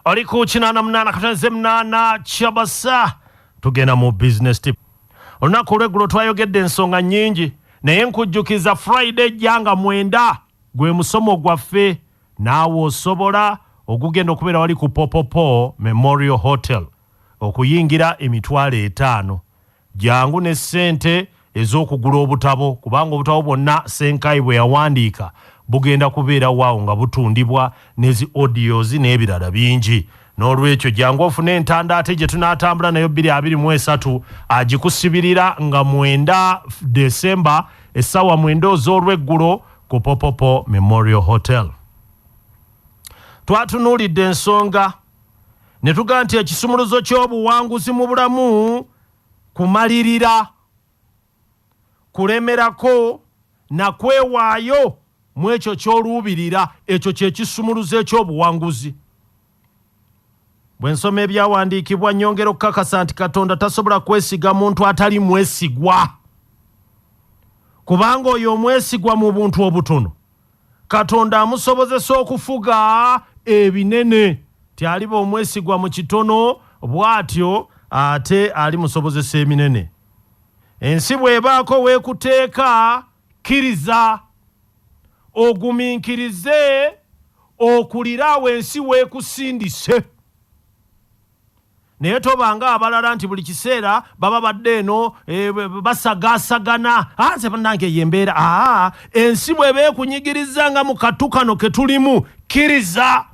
ali ku kinaana munaana katonze munaana kyabasa tugenda mu business tip olunaku olweggulo twayogedde ensonga nnyingi naye nkujjukiza friday jjanga mwenda gwe musomo gwaffe naawe osobola ogugenda okubeera wali ku popopo memorial hotel okuyingira emitwalo etaano Jangu ne ssente ez'okugula obutabo kubanga obutabo bwonna Ssenkaayi bwe yawandiika bugenda kubeera waawo nga butundibwa ne zi audios n'ebirala bingi. N'olwekyo jangu ofune entanda ate gye tunaatambula nayo bbiri abiri mu esatu agikusibirira nga mwenda Desemba essaawa mwenda oz'olweggulo ku Popopo Memorial Hotel. Twatunuulidde ensonga ne tuga nti ekisumuluzo ky'obuwanguzi mu bulamu kumalirira kulemerako na kwewaayo mu ekyo ky'oluubirira ekyo kye kisumuluzo eky'obuwanguzi bwe nsoma ebyawandiikibwa nnyongera okukakasa nti katonda tasobola kwesiga muntu atali mwesigwa kubanga oyo omwesigwa mu buntu obutono Katonda amusobozesa okufuga ebinene, nti aliba omwesigwa mu kitono, bw'atyo ate alimusobozesa eminene. Ensi bw'ebaako w'ekuteeka, kkiriza, ogumiikirize, okulire awo ensi w'ekusindise. naye toba nga abalala nti buli kiseera baba badde eno e, basagasagana ah, nze banange eyo embeera ah, ensi bweba ekunyigiriza nga mu katu kano ke tulimu kkiriza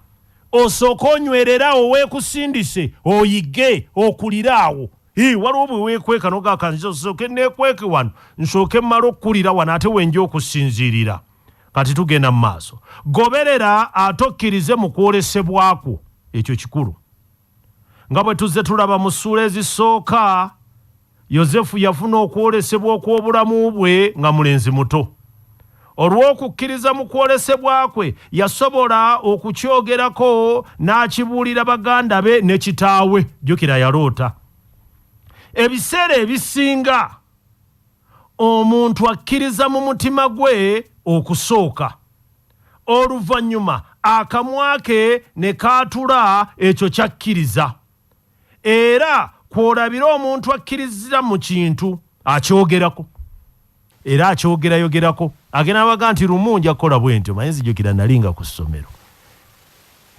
osooke onywererawo weekusindise oyige okulire awo waliwo bwe weekweka nogakanzi osooke neekweke wano nsooke mmala okukulira wano ate wenja okusinziirira kati tugenda mu maaso goberera ate okkirize mu kwolesebwa kwo ekyo kikulu nga bwe tuzze tulaba mu ssuula ezisooka yosefu yafuna okwolesebwa okw'obulamu bwe nga mulenzi muto olw'okukkiriza mu kwolesebwa kwe yasobola okukyogerako n'akibuulira baganda be ne kitaawe jjukira yaloota ebiseera ebisinga Omuntu akkiriza mu mutima gwe okusooka, oluvannyuma akamwa ke ne kaatula ekyo ky'akkiriza. Era kw'olabira omuntu akkirizza mu kintu akyogerako. Era akyogerayogerako. Agenda n'abaga nti, Lumu nja kukola bwentyo. Omanyi, nzijukira nnali nga ku ssomero.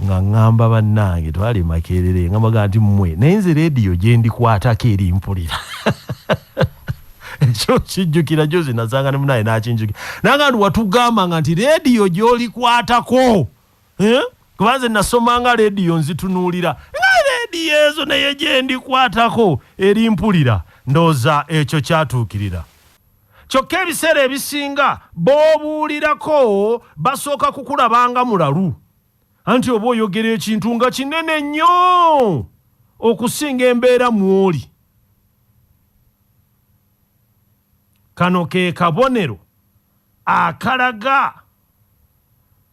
nga ngamba bannange twali makerere nga baga nti mmwe naye nze leediyo gye ndikwatako eri mpulira ekyo kijjukira jozi nasanga ne munaye nakinjukira nanga nti watugamba nga nti leediyo gy'olikwatako eh? kuba nze nasomanga leediyo nzitunuulira nga leediyo ezo naye gye ndikwatako eri mpulira ndowooza ekyo kyatuukirira Kyokka ebiseera ebisinga b'obuulirako basooka kukulaba nga mulalu, anti oba oyogera ekintu nga kinene nnyo okusinga embeera mw'oli. Kano ke kabonero akalaga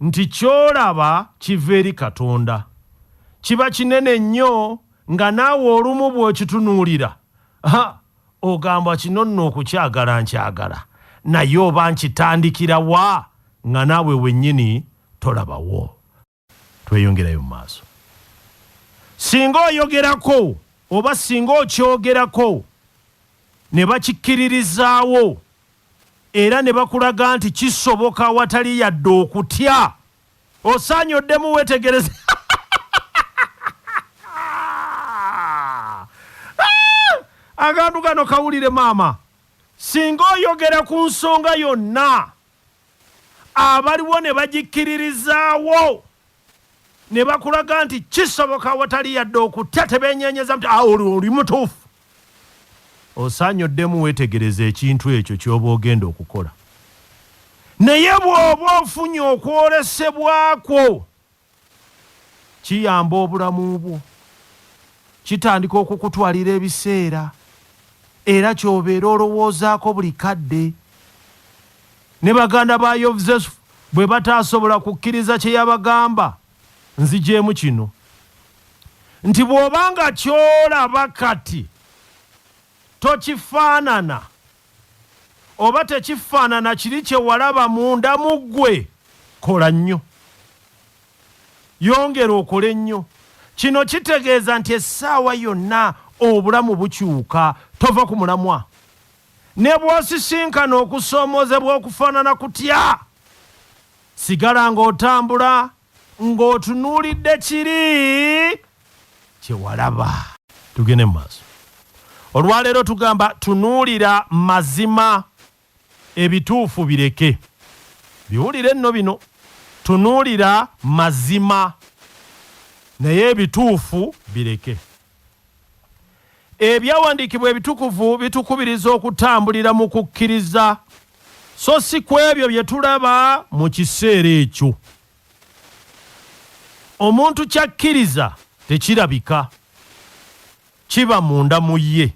nti ky'olaba kiva eri Katonda. Kiba kinene nnyo nga naawe olumu bw'okitunuulira Ogamba kino nno okukyagala nkyagala naye oba nkitandikira wa nga naawe wennyini tolabawo? Tweyongerayo mu maaso. Singa oyogerako oba singa okyogerako ne bakikkiririzaawo era ne bakulaga nti kisoboka awatali yadde okutya Osaanye oddemu weetegereze. Akantu kano kawulire maama. Singa oyogera ku nsonga yonna abaliwo ne bagikkiririzaawo ne bakulaga nti kisoboka awatali yadde okutya tebeenyenyeza nti ah, oli mutuufu. Osaanye oddemu weetegereze ekintu ekyo ky'oba ogenda okukola. Naye bw'oba ofunye okwolesebwa kwo, kiyamba obulamu bwo. Kitandika okukutwalira ebiseera era ky'obeera olowoozaako buli kadde. Ne baganda ba Yozefu bwe bataasobola kukkiriza kye yabagamba, nzigyemu kino nti bw'oba nga ky'olaba kati tokifaanana oba tekifaanana kiri kye walaba munda mu ggwe, kola nnyo. Yongera okole nnyo. Kino kitegeeza nti essaawa yonna obulamu bukyuka, tova ku mulamwa. Ne bw'osisinkana okusoomoozebwa okufaanana kutya, Sigala ng'otambula ng'otunuulidde kiri kye walaba. Tugende mu maaso. Olwaleero tugamba tunuulira mazima, ebituufu bireke. Biwulire nno bino, Tunuulira mazima naye ebituufu bireke. Ebyawandiikibwa ebitukuvu bitukubiriza okutambulira mu kukkiriza so si ku ebyo bye tulaba mu kiseera ekyo. Omuntu ky'akkiriza tekirabika, kiba munda mu ye.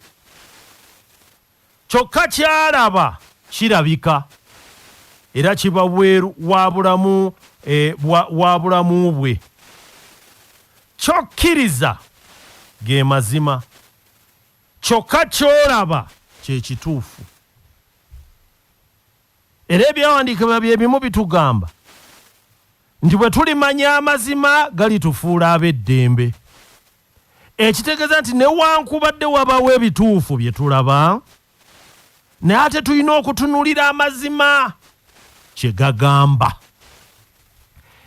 Kyokka ky'alaba kirabika era kiba bweru wa bulamu e, bwa, wa bulamu bwe. Ky'okkiriza ge mazima, kyokka ky'olaba kye kituufu. Era ebyawandiikibwa bye bimu bitugamba nti bwe tulimanya amazima galitufuula ab'eddembe. ekitegeeza nti newankubadde wabawo ebituufu bye tulaba naye ate tulina okutunulira amazima kye gagamba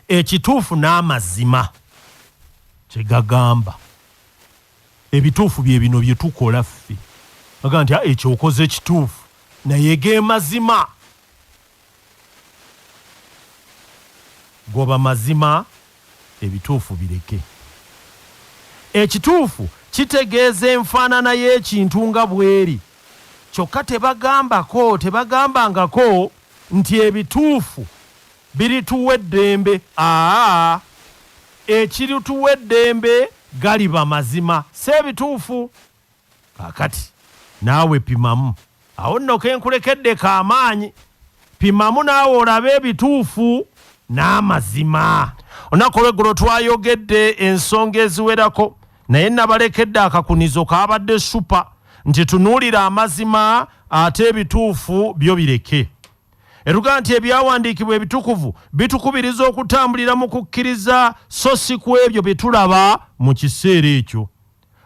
ekituufu n'amazima kye gagamba ebituufu bye bino bye tukola ffe aga nti ah, ekyokoze ekituufu naye ge mazima Goba mazima ebituufu bireke. Ekituufu kitegeeza enfaanana y'ekintu nga bweri kyokka tebagambako tebagambangako nti ebituufu birituwa eddembe aa ekirituwa eddembe galiba mazima si ebituufu. Kaakati, naawe pimamu. Awo nno ke nkulekedde ka maanyi. Pimamu naawe olabe ebituufu n'amazima. Olunaku olw'eggulo twayogedde ensonga eziwerako, naye nnabalekedde akakunizo kaabadde ssupa, nti tunuulira amazima ate ebituufu byo bireke. Etugaa nti ebyawandiikibwa ebitukuvu bitukubiriza okutambulira mu kukkiriza so si ku ebyo bye tulaba mu kiseera ekyo.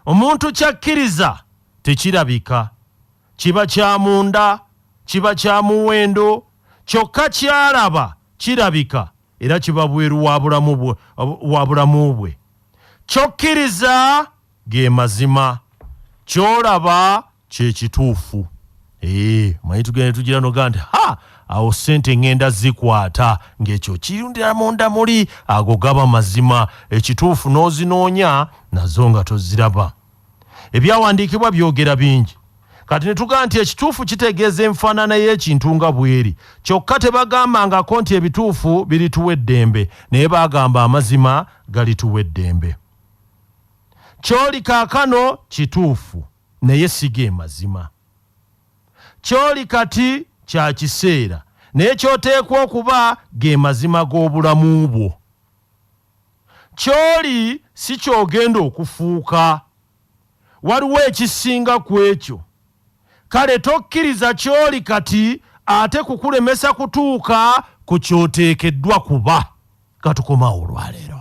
omuntu kyakkiriza tekirabika kiba kya munda kiba kya muwendo kyokka kyalaba kirabika era kiba bweru wa bulamu bwe kyokkiriza ge mazima kyolaba kyekituufu ee manyi tugende tugira noga nti ha awo sente ngenda zikwata ngekyo kirundira munda muli ago gaba mazima ekituufu n'ozinoonya nazo nga toziraba ebyawandiikibwa byogera bingi kati ne tugaa nti ekituufu kitegeeza enfaanana y'ekintu nga bweri kyokka tebagambangako nti ebituufu birituwa eddembe naye baagamba amazima galituwa eddembe kyoli kaakano kituufu Naye si ge mazima. Ky'oli kati kya kiseera, naye ky'oteekwa okuba ge mazima g'obulamu bwo. Ky'oli si ky'ogenda okufuuka. Waliwo ekisinga ku ekyo. Kale tokkiriza ky'oli kati ate kukulemesa kutuuka ku ky'oteekeddwa kuba. Ka tukome awo olwaleero.